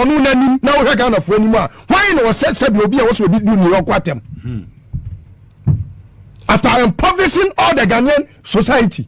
ɔno n'anim na wohwɛ ghanafoɔ anim a hwan na ɔsɛ sɛbi obi a wɔsɛ odi du ne yɔnko atɛm after impoverishing all the ghanaian society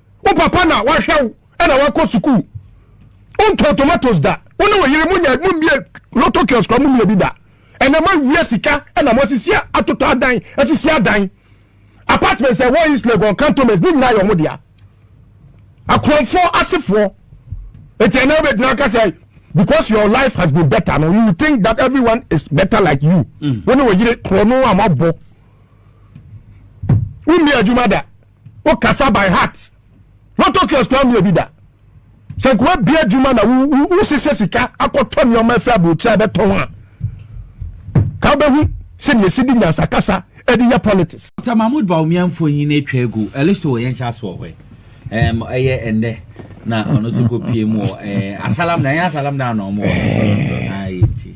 Wo papa na wahwɛ wo ɛna wakɔ sukuu. Wontɔn tomatoes da. Wo ne wo yere mo nya mo mbie lotto kiosk kora mo mmie bi da. Ɛnɛ mo awia sika ɛna mo asisi atotɔ adan asisi adan. Apartments a ɛwɔ East Legon cantonments ne nyinaa yɛ ɔmo dea. Akorɔmfoɔ asefoɔ. Eti ɛnɛ wobɛgyina aka sɛ because your life has been better no you think that everyone is better like you. Mm. Wo ne wo yere korɔ no a mo abɔ. Wo mmie adwuma da. wo kasa by heart lotto kiosk wa mi obi da sɛ nka wabia adwuma na wosesɛ sika akɔtɔ nneɛma afiri aburokyerɛ a bɛtɔn a ka wobɛhu sɛdeɛ ɛsi de nyansakasa ɛde yɛ politics Dr. Mahmoud Bawumia mfonyin atwa agu ɛlisto wɔ yɛn hyɛ aso wɔ hɔ ɛm ɛyɛ ɛndɛ na ɔno nso kɔ pie mu wɔ ɛɛ asalam na ɛyɛ asalam na anɔ ɔmo wɔ asalam na ayɛ ti.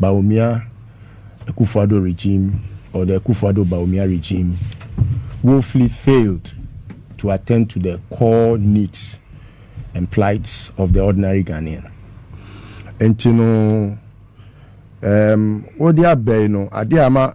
Bawumia Akuffo-Addo regime or the Akuffo-Addo Bawumia regime woefully failed to attend to the core needs and plights of the ordinary Ghanaian. Nti no, um, wode abɛi no, ade ama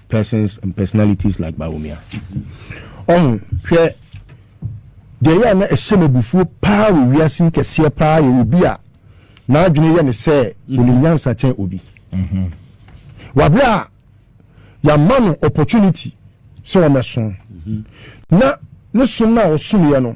persons and personalities like Bawumia. Ɔho hwɛ deɛ yɛ a na ɛhyɛ me abufuo paa wɔ wiase mu kɛseɛ paa yɛ obi a n'adwene yɛ ne sɛ onim nyansa kyɛn obi. Wabere a yɛama no opportunity sɛ wɔmɛso na ne som no a ɔsomyɛ no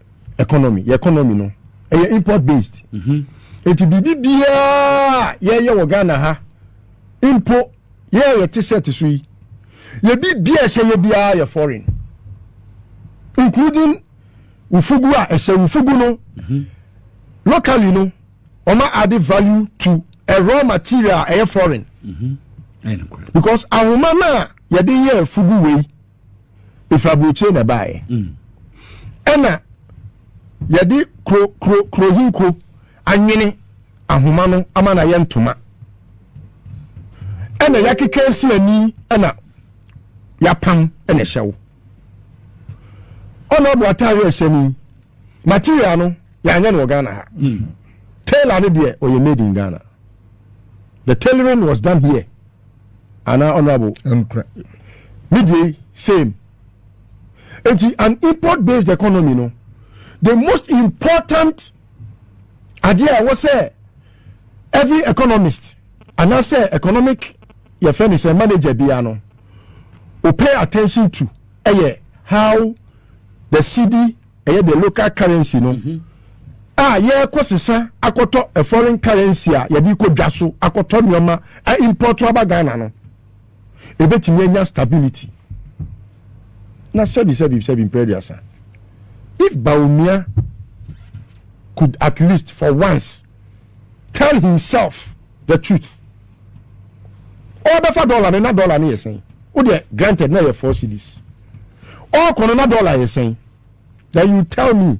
economy yɛ economy no ɛyɛ import based mhm. nti biribi biara yɛyɛ wɔ ghana ha mpo yɛyɛ yɛ te set so yi yɛbi biara ɛhyɛ yɛ biara yɛ foreign including wufugu a ɛhyɛ wufugu no mhm. locally no wɔn ade value to a raw material ɛyɛ foreign mhm. because ahoma no a yɛde yɛ fugu wei. ɛfiri aburokyire na ɛbaeɛ ɛna yɛde kuro kuro kuro hinko anwene ahoma no ama no ayɛ ntoma ɛna yɛakeka si ani ɛna yɛapam ɛna ɛhyɛ wo ɔna ɔbɔ ataare ɛhyɛ ni material no yɛanyɛ no wɔ ghana ha hmm. tailor no deɛ ɔyɛ made in ghana the tailoring was done here anaa honourable. Ɛnukura ne deɛ yi same nti an import based economy no the most important adeɛ a ɛwɔ sɛ every economist anaasɛ economic yɛfrɛ ne sɛ manager biara no o pay attention to ɛyɛ how the cedi ɛyɛ the local currency no a yɛrekɔ sesa akɔtɔ a foreign currency a yɛde kɔ dwa so akɔtɔ nneɛma a import aba ghana no ebetumi anya stability na sɛbi sɛbi sɛbi mpere aduasa if baumia could at least for once. tell himself the truth ɔbɛfa dollar no na dollar no yɛ sɛn wo deɛ granted na yɛ four cities ɔkɔ no na dollar yɛ sɛn then you tell me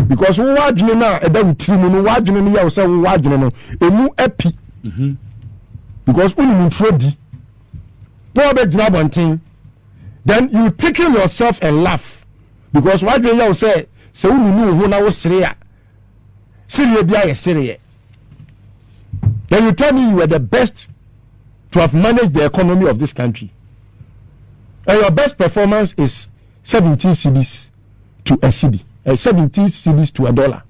because wo wadwene no a ɛda wo tiri mu no wadwene no yɛ wo sɛ wo wadwene no ɛmu api mhm. because wonim nturo di na wɔbɛgyina abɔnten then you tickle yourself and laugh because wadwene yɛ wo sɛ sɛ wonunu wo ho na wosere a sereɛ bi ayɛ sereɛ then you tell me you were the best to have managed the economy of this country and your best performance is seventeen cedis to a cedi uh, eh, seventeen cedis to a dollar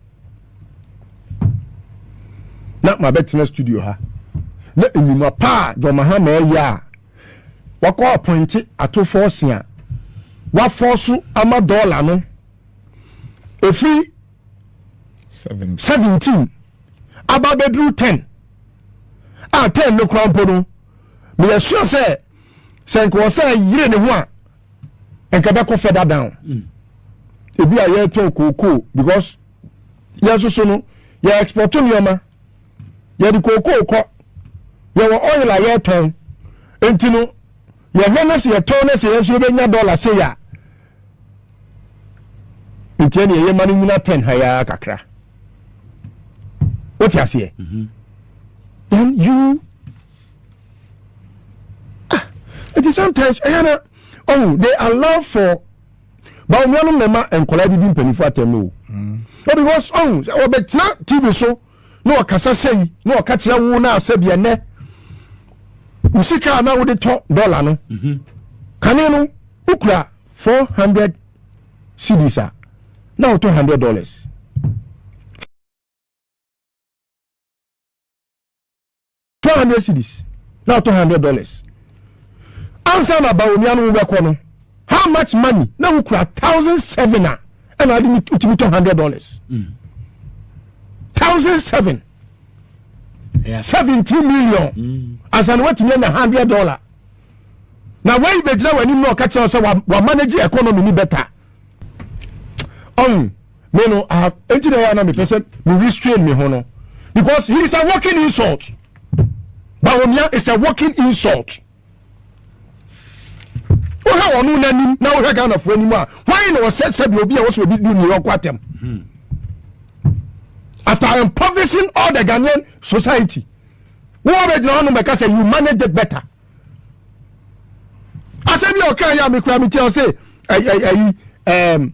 na ma bɛtena studio ha na enyima paa john mahama ɛyɛ a wakɔ apɔnte atofoɔ se a wafɔ so ama dɔɔla no. ɛfiri 17 aba bɛduru 10 a 10 no kora mpo no meyɛ sure sɛ sɛ nka wɔ sɛ yere ne ho a nka bɛkɔ further down mm. ebi a yɛtɔn kookoo because yɛn soso no yɛ export nneɛma yɛde kookoo kɔ yɛwɔ oil a yɛtɔn nti no yɛhwɛ no sɛ yɛtɔn no sɛ yɛn nso yɛbɛnya dollar sei a nti ɛne ɛyɛ ma no nyina tɛn ha yɛa kakra wote aseɛ mhm. then you ah nti sometimes ɛyɛ na oh they allow for bawo nuanom na ɛma nkɔla didi mpanyinfoɔ atɛm no o oh because oh ɔbɛtena tv so. na ɔkasa sei na ɔka kyerɛ wo na asɛ bia nɛ wo sika a na wode tɔ dɔla no mhm. kane no wokura four hundred cedis a na wotɔ hundred dollars four hundred cedis na ɔtɔ hundred dollars ansa na ba onua no wobɛkɔ no how much money na wokura thousand seven a ɛna ade wotumi tɔ hundred dollars mm. thousand seven seventy million mm. ansa na watumi anya hundred dollar na wei bɛgyina w'anim na ɔka kyerɛ sɛ wamanage economy ni bɛta ɔn me no i have enti na ɛyɛ ana mepɛ sɛ me restrain me ho no because he is a walking insult bawomia is a walking insult wohwɛ wɔn no n'anim na wohwɛ ghanafoɔ anim a wɔn na wɔsɛ sɛbi obi a wɔsɛ obi du new york atɛm hmm. after impoverishing all the ghanaian society wọ́n bɛ gyina hɔ nom bɛ ka sɛ you manage it better asɛm bi a ɔka yɛ a mekura me ti a ɔsɛ ɛyi ɛyi ɛɛm.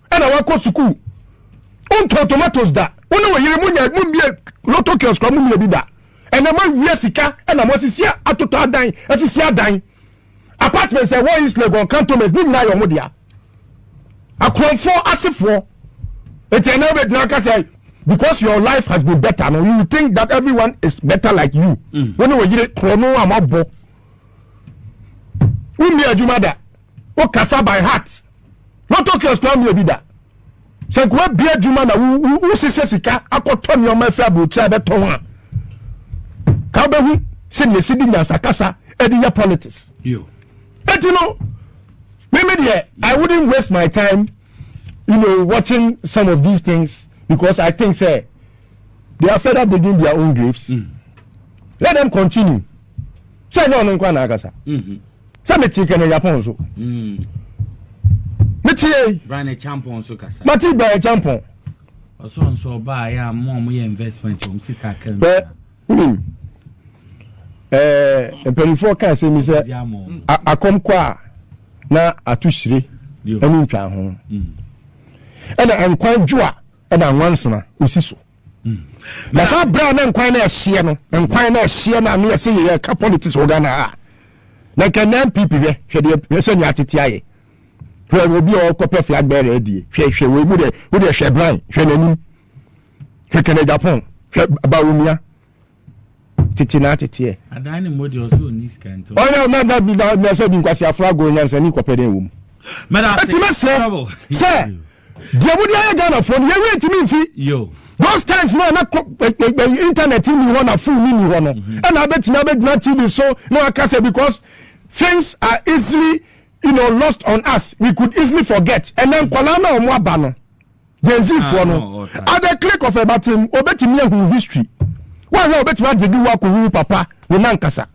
ɛna wakɔ sukuu wontɔn tomatoes da wo ne wo yere monya mommie lotto kiosk kora mommie bi da ɛnɛ moawia sika ɛna moasisi atotɔ adan asisi adan apartments ɛwɔ east legon cantonments ne nyinaa yɛ ɔmo dea akorɔmfoɔ asefoɔ eti ɛnɛ wobɛgyina aka sɛ because your life has been better no you think that everyone is better like you mm. wo ne wo yere korɔ no a moabɔ wommie adwuma da wo kasa by heart lotto kiosk wa mia bi da sɛ nka wabia adwuma na wosesɛ sika akɔtɔ nneɛma afiri aburokyerɛ a bɛtɔn a ka wobɛhu sɛdeɛ ɛsi de nyansakasa ɛde yɛ politics ɛti no meme deɛ i wouldn't waste my time you know watching some of these things because i think sɛ they are further digging their own graves mm. let them continue sɛ ɛnyɛ ɔno nkwa na akasa sɛ mete kɛnɛ yapɔn so mete yei mate bra ne kyampɔn ɔsɔnsɔ ɔbaa yɛ a mo a mo yɛ investment wɔn sika kɛm wonim ɛɛ mpanimfoɔ kaa sɛ mi sɛ akɔm kɔ a na ato hyire ɛne ntwa ho ɛna nkwan dwo a ɛna nwansena osi so na saa berɛ a na nkwan no ɛhyeɛ no nkwan no ɛhyeɛ no ano yɛ sɛ yɛyɛ ka politics wɔ ghana a na nka na mpp hwɛ hwɛ deɛ hwɛ sɛ nea atete ayɛ hwɛ obi a ɔkɔpɛ flag bearer adie hwɛ hwɛ wei mu deɛ wo deɛ hwɛ bran hwɛ n'anim hwɛ kɛnɛ japan hwɛ bawumia tete na ateteɛ. Adan ne mmɔ deɛ ɔsɛ ɔni sika nti. Ɔyɛ na na bi na na sɛ bi nkwasi afra agorɔ nyansa ni kɔpɛ dɛn wɔ mu. Eti mɛ srɛ sɛ deɛ mo de ayɛ Ghana foɔ no yɛ wei ntumi nfi. Those times no na internet ni hɔ na phone ni hɔ no ɛna abɛtumi abɛgyina TV so na waka sɛ because things are easily you know lost on us we could easily forget ɛnɛ nkwadaa na wɔn aba no. Gen Z foɔ no, at the click of a button, obetumi ahu history. Wahwɛ obetumi agyedi wo akohu papa ne nankasa.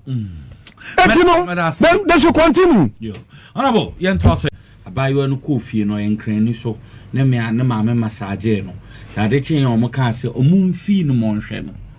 Eti no, they, they should continue. Yo, honorable, yɛn to aso. Abaayewa no kɔɔ fie no, ɔyɛ nkrani so, ne mmea ne maame masaagee no. Sɛ ade kyee wɔn kaa sɛ wɔn mfii no mɔnhwɛ no.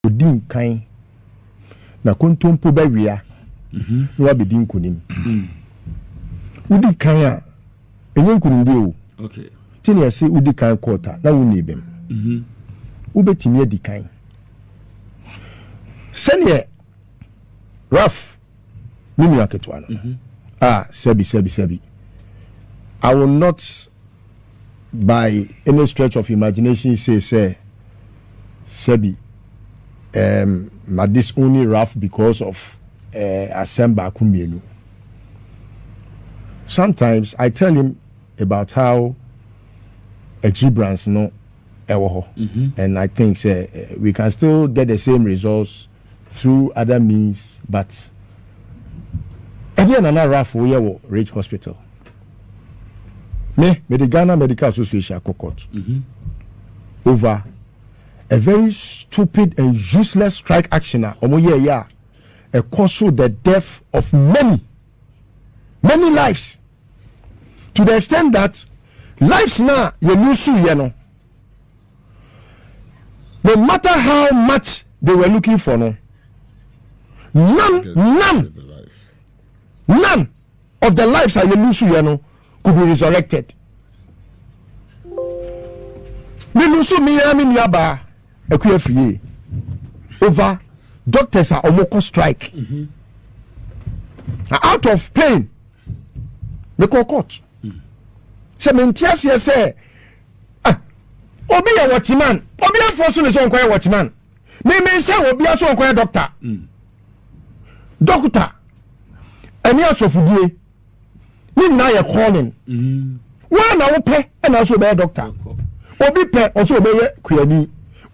Odi nkan na kontompo bɛwea na wabedi nkunim. Wodi kan a, ɛnyɛ nkunimdie o. Te nea ɛse wodi kan court a na wonni bem. Wobɛtumi adi kan. Sɛdeɛ Ralph. Me nua ketewa no. Mm-hmm. Ah, sɛbi, sɛbi, sɛbi. I will not by any stretch of imagination say sɛ sɛbi um, ma this only rough because of uh, asɛm baako mmienu. Sometimes I tell him about how exuberance no ɛwɔ hɔ mm-hmm. and I think sɛ uh, we can still get the same results through other means but ɛdeɛn na na Ralph woyɛ wɔ Ridge Hospital? Me, mede Ghana Medical Association akɔ court mhm. over a very stupid and useless strike action a wɔn yɛ yɛ a ɛkɔ so the death of many many lives to the extent that lives na yɛ lose yɛ no. No matter how much they were looking for no, none, none, none of the lives a yɛ lose yɛ no could be resurrected. Me lose me ya me nuaba ɛkú afie over doctors a wɔn kɔ strike. Mm -hmm. out of pain mekɔ court sɛ mente aseɛ sɛ Ah, obi yɛ wɔtiman obi afɔ so ne sɛ ɔnkɔyɛ wɔtiman mímí sɛ obi aso ɔnkɔyɛ dɔkta hmm. dɔkta ɛne asɔfodie ne nyinaa yɛ calling hmm. wɔn na wopɛ ɛna ɔsɛ ɔbɛyɛ dɔkta obi pɛ ɔsɛ ɔbɛyɛ kuani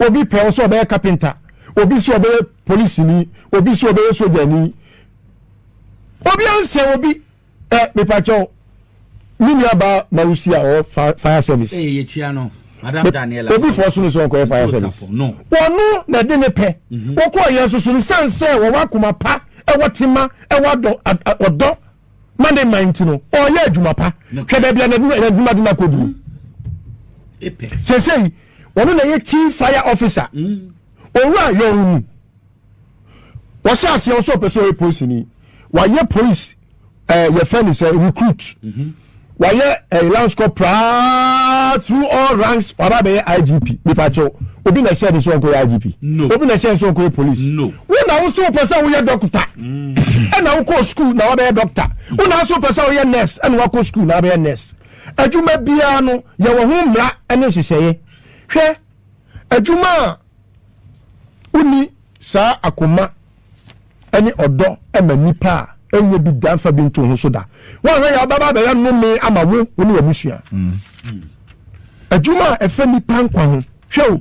obi pɛ ɔsɛ ɔbɛyɛ kapinta obi sɛ ɔbɛyɛ polisini obi sɛ ɔbɛyɛ sojani obi ansɛ obi. ɛ eh, mepakyɛw me nua baa mawusi a ɔwɔ fire service. ee eh, yɛtua no madam daniela. obi fɔ so ne sɛ ɔkɔyɛ fire service. wɔno na ɛde ne pɛ mhm. wɔkɔ yɛn soso no san sɛ wɔwɔ akoma pa ɛwɔ tema ɛwɔ adɔ ɔdɔ ma ne man ti no ɔyɛ adwuma pa hwɛ baabi a n'adwuma de n'akɔ duro sese yi wɔn na yɛ chief fire officer mm. owura yɔn mu. wɔhyɛ aseɛ wo sɛ ɔpɛ sɛ ɔyɛ polisini wayɛ polisi ɛɛ eh, yɛfɛ ne sɛ recruit mhm. wayɛ ɛɛ eh, lance corporal through all ranks waba abɛyɛ igp mipakyɛw obi na ɛhyɛ ne sɛ ɔnkɔyɛ igp obi na ɛhyɛ ne sɛ ɔnkɔyɛ polisi wo na wo sɛ wopɛ sɛ woyɛ dɔkta mm. ɛna wokɔ sukuu na wabɛyɛ dɔkta wo na wo sɛ wopɛ sɛ woyɛ nurse ɛna wakɔ sukuu na wabɛyɛ nurse adwuma biara no yɛwɔ ho mmara ne nhyehyɛeɛ hwɛ Adwuma a wonni saa akoma ne ɔdɔ ma nnipa a ɛnyɛ bi da mfa bi nto ho so da. Woanhwɛ yɛ abɛba abɛyɛ nnome ama wo wo ne w'abusua. Adwuma a ɛfa nnipa nkwa ho. Hwɛ o,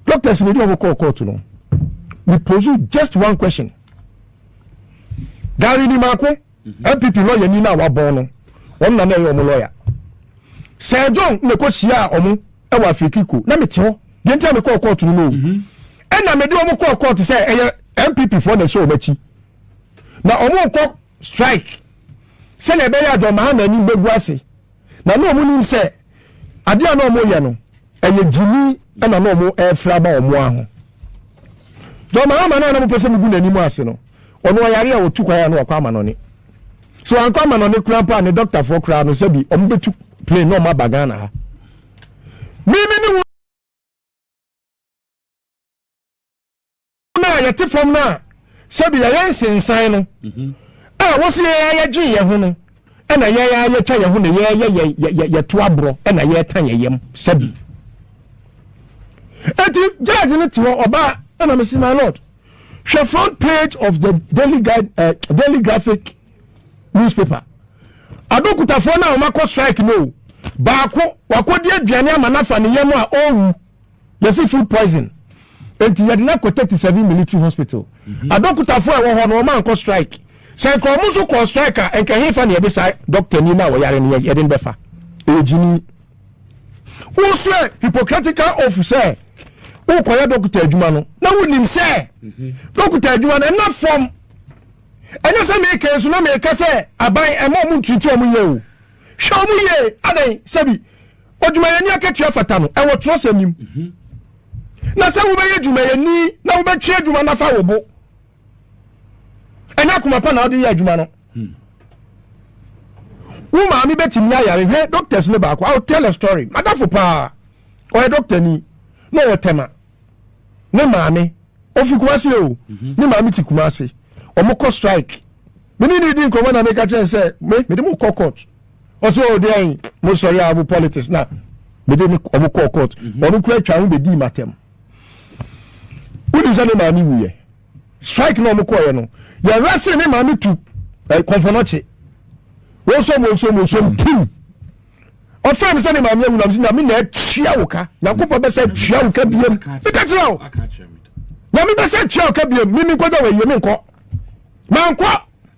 doctors na ɛdi wɔn kɔɔ kɔɔto no. Me pose just one question. Gari ni mako. NPP lɔyani no a wɔabɔn no, ɔno na na ɛyɛ wɔn lɔya. Sir John na ɛkɔhyiaa wɔn wɔ Afirikiko, na mete hɔ. Deɛ nti a mekɔɔ kɔɔto no no o. Mhm. Ɛna mede wɔn kɔɔ kɔɔto sɛ ɛyɛ NPP foɔ na ɛhyɛ wɔn akyi. Na wɔn nkɔ strike sɛdeɛ ɛbɛyɛ a John Mahama anim bɛgu ase. na na wɔn nim sɛ adeɛ a na wɔn yɛ no ɛyɛ gyimi ɛna na wɔn ɛrefra ama wɔn aho john mahama na anam pɛ sɛ mugu n'anim ase no ɔno ɔyare a ɔtu kwan a na wakɔ amanɔne so ankɔ amanɔne kura mpo a ne dɔktafoɔ koraa no sɛ bi wɔn bɛtu plane na wɔn aba ghana ha mímí ne no a yɛte fam no a sɛbi yɛyɛ nsensan no mhm. a wɔsi yɛn a yɛgye yɛn ho no ɛna yɛn a yɛtwa yɛn ho na yɛyɛ yɛ yɛ yɛto aborɔ ɛna yɛta yɛn yam sɛbi eti judge no te hɔ ɔbaa ɛna mesi my lord hwɛ front page of the daily guide uh, daily graphic newspaper adokutafoɔ no a wɔn akɔ strike no baako wakɔdi aduane ama nafa ne yam a ɔrewu. Yɛse food poison nti yɛde no akɔ thirty seven military hospital. Mhm. Adɔkotafoɔ a ɛwɔ hɔ no wɔn ankɔ strike. Sɛ nka wɔn nso kɔɔ strike a nka hefa na yɛde saa doctor ni na wɔyare no yɛde no bɛfa. Ɛyɛ gyini. Wosɛ hypocritical oath sɛ wokɔyɛ dɔkota adwuma no na wonim sɛ mhm. dɔkota adwuma no ɛna fam ɛnyɛ sɛ meeka nso na meeka sɛ aban ɛma ɔmo ntiriti ɔmo yɛ o hwɛ ɔmo yie adɛn sɛbi Odwumayɛni akatua fata no, ɛwɔ twerɛsɛm no mu. Mhm. Na sɛ wobɛyɛ dwumayɛni na wobɛtwe adwuma no afa wo bo, ɛnyɛ akoma pa na wode yɛ adwuma no. Hmm. Wo maame bɛtumi ayare hwɛ doctors no baako. I will tell a story. Madafo paa, ɔyɛ doctor ni na ɔwɔ tɛma. Ne maame, ofi Kumasi o, mhm. ne maame ti Kumasi. Wɔn kɔ strike. Mene ne di nkɔmɔ na meka kyɛn sɛ, me, mede mo kɔ court. ɔsɛ ɔwɔ deɛn mo sɔre a mo politics na mede ne ɔmo kɔɔ court mhm. ɔno kura atwa ho bɛdii matam wonim sɛ ne maame wuyɛ strike na ɔmo kɔɔyɛ no yɛwerɛ se ne maame tu eh, kɔmfɔnɔkye wɔsɔm wɔsɔm wɔsɔm tim ɔfrɛ me sɛ ne maame awu nam sɛ nyame na atua wo ka nyankopɔn bɛsɛ atua wo ka biam meka kyerɛ wo nyame bɛsɛ atua wo ka biam meme nkɔda wɔ ayie menkɔ mankɔ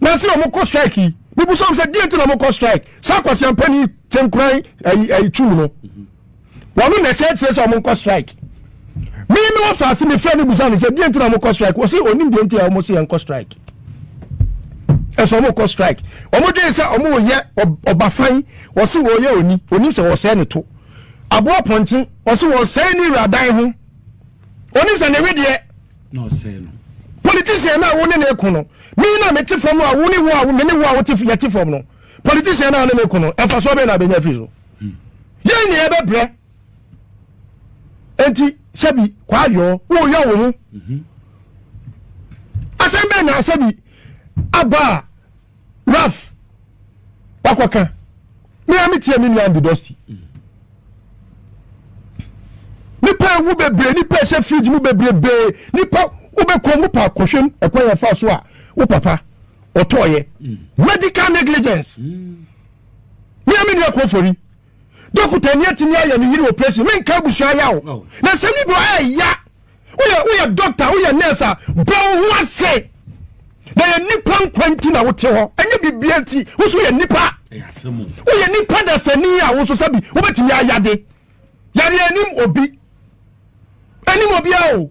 na sɛ wɔn kɔ strike yi mibusa wɔn sɛ deɛ nti na wɔn kɔ strike saa kwasiampani kyenkoran ɛyi ɛyi tum no wɔn na ɛhyɛ kyerɛ sɛ wɔn kɔ strike mi mi wɔ faase mi fɛ mi busa no sɛ deɛ nti na wɔn kɔ strike wɔsi onim deɛ nti a wɔn si yɛn kɔ strike ɛsɛ wɔn kɔ strike wɔn dwen sɛ wɔn wɔ yɛ ɔbafan wɔsi wɔn yɛ oni onim sɛ wɔsɛɛ ne to aboa pɔnkye wɔsi wɔsɛɛ ne wuradan ho onim sɛ ne wedeɛ. na ɔsɛe no. Politician no a wo ne no ko no, me na mete fam a wo ne wo a me ne wo a wote yɛte fam no, politician no a wo ne no ko no, mfasoɔ bɛn na abɛnya afiri so? Hmm. Yɛn ne yɛbɛbrɛ. Enti sɛbi kwaayɔɔ woyɛ wo ho. Mhm. Asɛm bɛn na sɛbi aba a Ralph wakɔka me a metie me nua Andy Dusty nipa ewu bebree nipa ɛhyɛ fridge mu bebrebee nipa wobɛkɔ mu pa kɔhwɛm ɛkwan yɛ fa so a wo papa ɔtɔɔyɛ medical negligence me a me nua kɔfori dɔkota ni atumi ayɛ ne yiri operation menka abusua yaw na sɛ ne bɔ ɛɛya woyɛ woyɛ doctor woyɛ nurse a bɔ wo ho ase na yɛ nipa nkwa nti na wote hɔ ɛnyɛ bibia nti wo so yɛ nipa woyɛ nipa dasani a wo so sɛbi wobɛtumi ayade yare anim obi anim obia o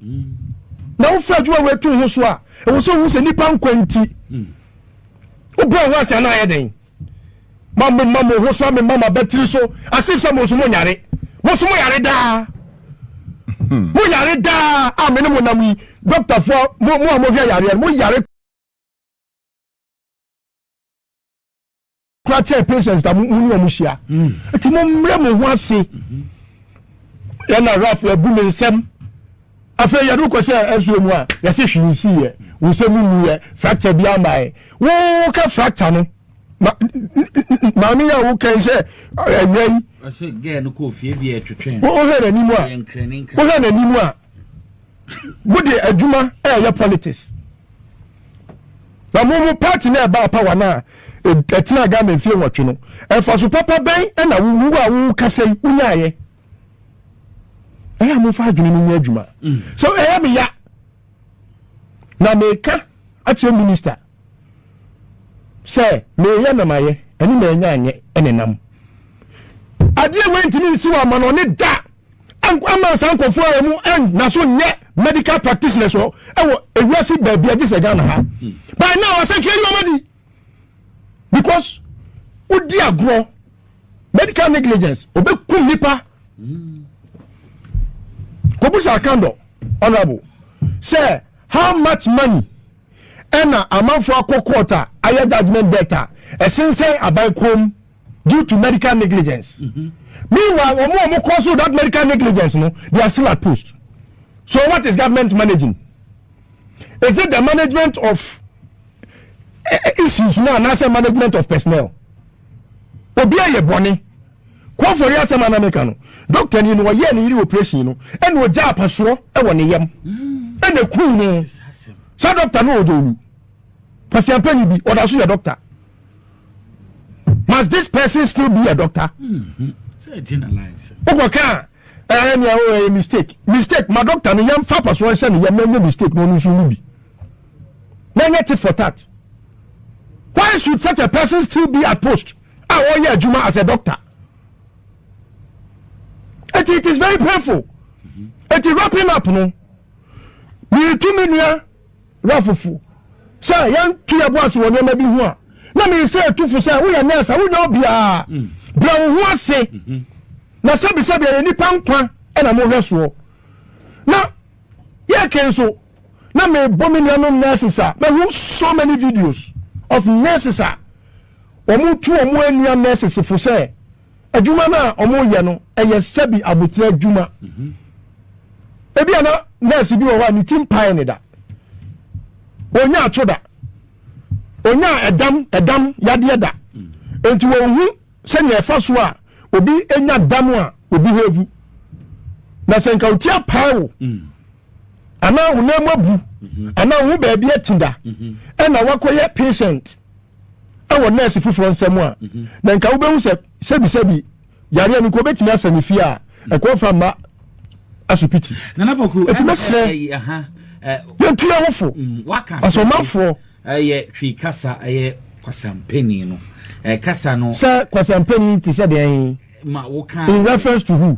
na wofa adwuma woatu ho so a ɛwɔ sɛ wohu sɛ nipa nkwa nti wobɔ wo ho ase anaa yɛ dɛn ma mo ma mo ho so a me ma m'abatiri so as if sɛ mo nso mo nyare mo nso mo yare daa hmm. mo yare daa a me ne mo nam yi dɔkta fo mo mo a mo hwɛ yareɛ mo yare kura kyɛ patients na mo ne wɔn hyia hmm. eti mo mmerɛ mo ho ase yɛn na raf ebu ne nsam. afei yɛde wokɔ sɛ ɛsoɛ mu a yɛse hwee nsiiɛ wo sɛ mu muyɛ fracture bi amaɛ woka fracture no maame yɛ wokan sɛ awia yi wohwɛ n'anim a wohwɛ n'anim a mode adwuma ɛyɛ politics na mo mo party na ɛba apa wa no a ɛtena ghana mfie nwɔtwe no ɛfa so papa bɛn ɛna wo a wokasa yi wonyaeɛ ɛyɛ a momfa adwene no nyɛ adwuma mm. so ɛyɛ meya na meka akyerɛ minista sɛ meyɛ na mayɛ ɛne maanya anyɛ ɛne nam adeɛ wei ntumi nsi wɔ ama no ɔne da ama saa nkɔfoɔ a ɔmo ɛnna so nyɛ medical practitioners wɔ ɛwɔ ewiase baabi agye sɛ ghana ha mm. bɛn na wɔsɛ kiri wɔn adi. because wodi agorɔ medical negligence obekum nipa kobusa akandɔ honourable sɛ how much money ɛna amanfo akɔ court a ayɛ judgement debt a ɛsensɛn aban kom due to medical negligence mm -hmm. meanwhile wɔn a wɔn kɔ so that medical negligence no they are still at post so what is government managing is it the management of issues no anaasɛ management of personnel obi ayɛ bɔne kɔfɔre asɛm ana meka no dɔkta ni no ɔyɛɛ ne yere operation no ɛna ɔgya apasoɔ wɔ ne yam ɛna ɛkuu no saa dɔkta no ɔdɔ wu kwasiampani bi ɔda so yɛ dɔkta must this person still be a doctor wokɔka a Ɛɛ nea o ɛyɛ mistake mistake ma doctor no yɛn fa apasoɔ nhyɛ ne yɛn na ɛnyɛ mistake na ɔno nso nni bi na ɛnyɛ tit for tat why should such a person still be at post a ɔyɛ adwuma as a doctor eti it is very painful eti wrapping up no miritumi nua Wura Fufu, sɛ yɛnto yɛn bo ase wɔ nneɛma bi ho a, na mese ɛto fo sɛ woyɛ nɛɛse a wonyɛ obiara. Mm. Brɛ wo ho ase. Mm-hmm. Na sɛbisɛbi ɛyɛ nipa nkwa ɛna mohwɛ soɔ. Na yɛke nso, na mebɔ me nuanom nurses a, mahu so many videos of nurses a wɔn tu wɔn anua nurses fo sɛ Adwuma no a wɔyɛ no yɛ sɛbi abotire adwuma. Mhm. Ebi a na nɛɛse bi wɔ hɔ a ne ti mpae ne da. Onyaa atwo da. Onyaa ɛdam ɛdam yadeɛ da. Mm. Nti wɔn ho sɛnea ɛfa so a obi nya dam a obi ho avu. Na sɛ nka oti apae wo. Mm. Anaa wo nan mu abu. Mhm. Anaa wo ho baabi ati da. Mhm. Ɛna wakɔyɛ patient. ɛwɔ nɛɛse foforɔ nsɛm a mhm. na nka wobɛhu sɛ sɛbisɛbi yareɛ no nka wobɛtumi asa ne fie a mhm. ɛkɔ fa mma asopiti ɛti mɛsrɛ yɛntu yɛ hofo mm, ɔsɛ ɔmanfoɔ ɛyɛ hwee kasa ɛyɛ kwasampani no ɛkasa no sɛ kwasampani te sɛ deɛ ma woka in reference to who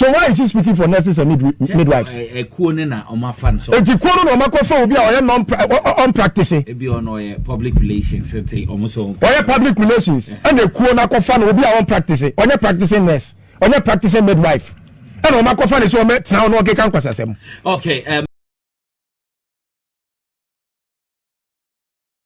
So why is he speaking for nurses and midwives? Ekuo ne na ɔmo afa no so. Eti kuo no na ɔmo akɔfa obi a ɔyɛ non ɔn practice. Ebi ɔno ɔyɛ public relations nti ɔmo so. Ɔyɛ public relations ɛna ekuo no akɔfa no obi a ɔn practice ɔnyɛ practicing nurse ɔnyɛ practicing midwife ɛna ɔmo akɔfa no so ɔmo tena hɔ na ɔkeka nkwasasɛm. Okay. Um,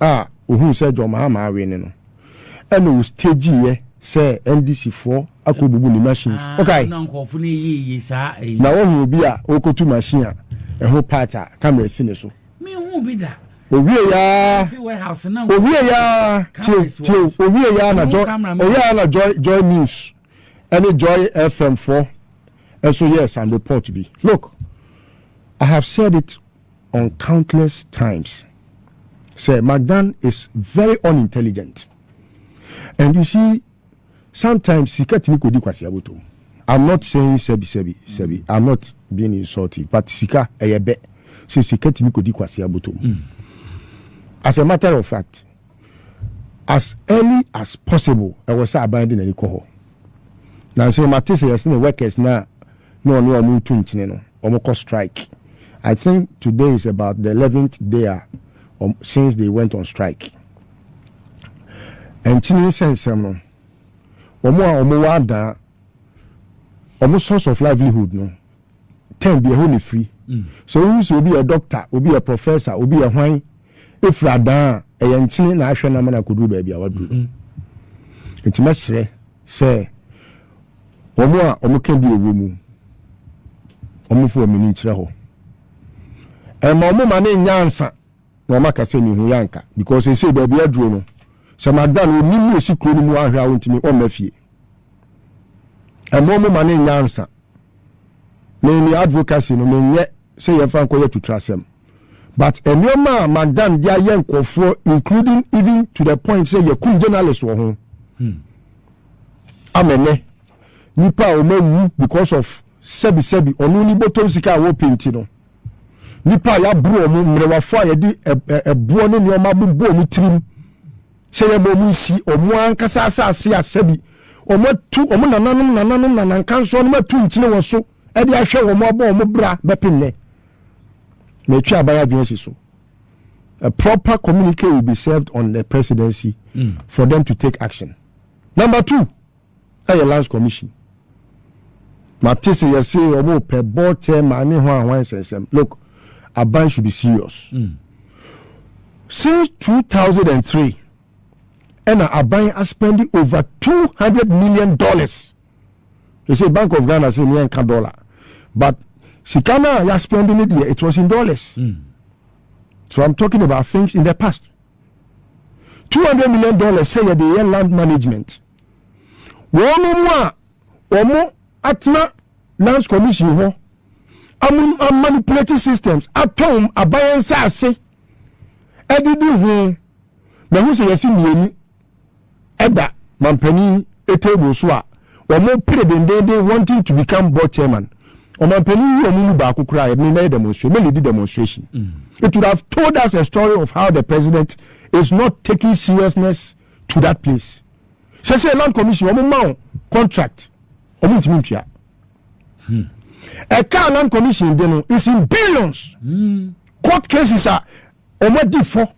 a ohuu sɛ John Mahama awene no, ɛna ɔstageeɛ sɛ NDC foɔ akɔbubu ne machines. Wokae? Na woahu obi a ɔrekɔtu machine a ɛho part a camera si ne so? Ɔwieeɛ ara, ɔwieeɛ ara, tie o, tie o, ɔwieeɛ ara na Joy, ɔwieeɛ ara na Joy, Joy News ɛne Joy FM foɔ nso yɛɛ some report bi. Look, I have said it on countless times sɛ Magdan is very unintelligent and you see sometimes sika tumi kɔdi kwasea bɔtɔm. I'm not saying sɛbi sɛbi sɛbi I'm not being insultive but sika ɛyɛ bɛ sɛ sika tumi kɔdi kwasea bɔtɔm. As a matter of fact As early as possible ɛwɔ sɛ aban de n'ani kɔ hɔ. Nansa yi mate sɛ yɛsene workers no a na ɔne wɔn retu nkyene no, wɔn kɔ strike. I think today is about the eleventh day a since they went on strike. Nkyene nsɛnsɛm no, wɔn a wɔn wɔ adan, wɔn source of livelihood no, term bi ɛhɔ na efiri so wohu sɛ obi yɛ doctor obi yɛ professor obi yɛ hwan efiri adan a ɛyɛ nkyene na ahwɛ nam na akoduru baabi a waduru no nti mɛsrɛ sɛ wɔn a wɔn ka bi ɛwɔ mu wɔn fo wɔn ani nkyerɛ hɔ ɛma wɔn ma ne nyansa na wɔn aka sɛ mehu yɛ anka because ɛsɛ baabi aduro no sɛ magda no onim mu osi kuro no mu ahwɛ a wɔntumi wɔn mma fie ɛma wɔn ma ne nyansa me me advocacy no menyɛ sɛ yɛmfa nkɔyɛ tutrasɛm but nneɛma a madam de ayɛ nkurɔfoɔ including even to the point sɛ yɛkum journalist wɔ ho hmm. amɛnɛ nipa a wɔawu because of sɛbisɛbi ɔno ne bɔtɔm sika a wɔpɛ nti no nipa a yɛaboro wɔn mmerɛwafoɔ a yɛde ɛboɔ ne nneɛma bobɔ wɔn tirim Sɛ yɛma wɔsi wɔn ankasa asase a sɛbi wɔatu wɔn nananom nananom nanankansoɔnom atu nkyene wɔ so de ahwɛ wɔn abɔ wɔn bra bɛpem nnɛ. Na ɛtwe aban adwene si so. A proper communique will be served on the presidency for them to take action. Number two. Ɛyɛ Lands Commission. Mate sɛ yɛse ɔmo pɛ board chairman ne hwan hwan nsɛnsɛm. Look, Aban should be serious. Since two thousand and three ɛna Aban a spend over two hundred million dollars. Yɛse Bank of Ghana se me ɛnka dollar but sika no a yɛ spend no deɛ it was in dollars. So I'm talking about things in the past. Two hundred million dollars sɛ yɛde yɛ land management. Wɔn a wɔatena Lands Commission hɔ amanipulate systems atɔn aban nsase adidi ho na ɛho sɛ yɛsi mmienu ɛda mampanin table so a wɔn pere dendenden wanting to become board chairman ɔmampanin yi wɔn mu baako koraa yɛ ne na yɛ demonstration mɛ lead demonstration mm. it would have told us a story of how the president is not taking seriousness to that place sɛsɛ land commission wɔn ma wɔn contract wɔn ntumi ntua hmm. ɛka land commission de no is in billions hmm. court cases a wɔn adi fɔ.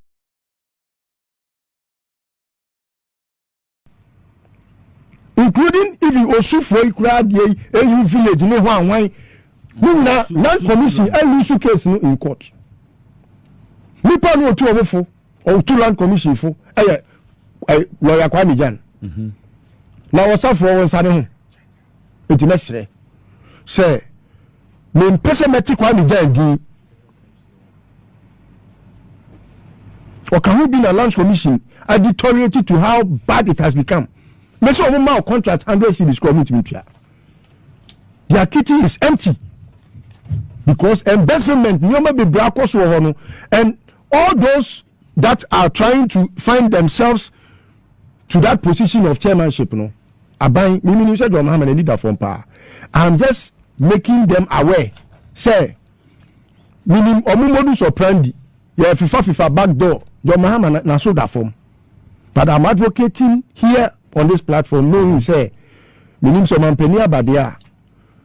including even osufoɔ yi koraa deɛ yi eyi village ne ho anwan ne nyinaa land commission ɛlu su case no in court nipa no otu ɔmo fo. Ɔtu land commission fo ɛyɛ ɛyɛ lɔya Kwame Gyan mhm. na ɔsafoɔ wɔn nsa ne ho nti mɛsrɛ sɛ mempɛ sɛ mɛte Kwame Gyan din ɔka ho bi na land commission adi tɔreti to how bad it has become mɛsɛ wɔn ma contract hundred cities kura wɔn ntumi tua their kitty is empty because embezzlement nneɛma bebree akɔ so wɔ hɔ no and All those that are trying to find themselves to that position of chairmanship no aban mimi nim sɛ deɛ ɔmo hama na leader fam paa i'm just making them aware sɛ minim ɔmo modus operandi yɛ fifa fifa back door deɛ ɔmo hama na so da fam but i'm advocating here on this platform knowing sɛ minim sɛ ɔmampanin abadeɛ a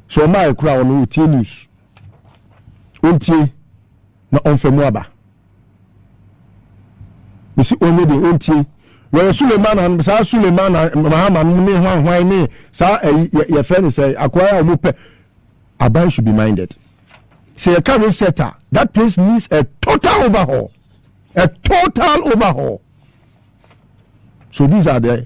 sɛ ɔmo a ekura ɔno otie news ɔntie na ɔmfa mu aba mesi ɔnyɛ deɛ ɔntie wɔyɛ sulemana no saa sulemana mahama no ne hwanhwan ne saa ɛyi yɛfrɛ no sɛ akoa a wɔn pɛ aban should be minded sɛ yɛka reset a that place needs a total overhaul a total overhaul so these are the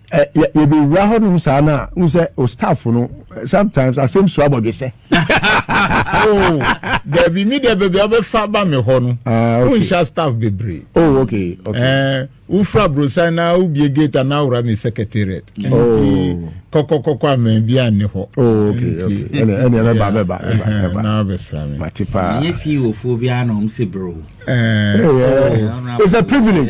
ɛ yɛ yɛbɛwura hɔnom saa no a wohu sɛ o staff no sometimes asɛm su abɔdwesɛ dabi me deɛ baabi a wobɛfa ba me hɔ no wonhyɛ staff bebree wofura brosan na wobie gate a na wora me secretariat nti kɔkɔkɔkɔ amaa bi anne hɔ na wobɛsra me mate paa ɛnyɛ fie wɔfoɔ biara na ɔm se bro it's a privilege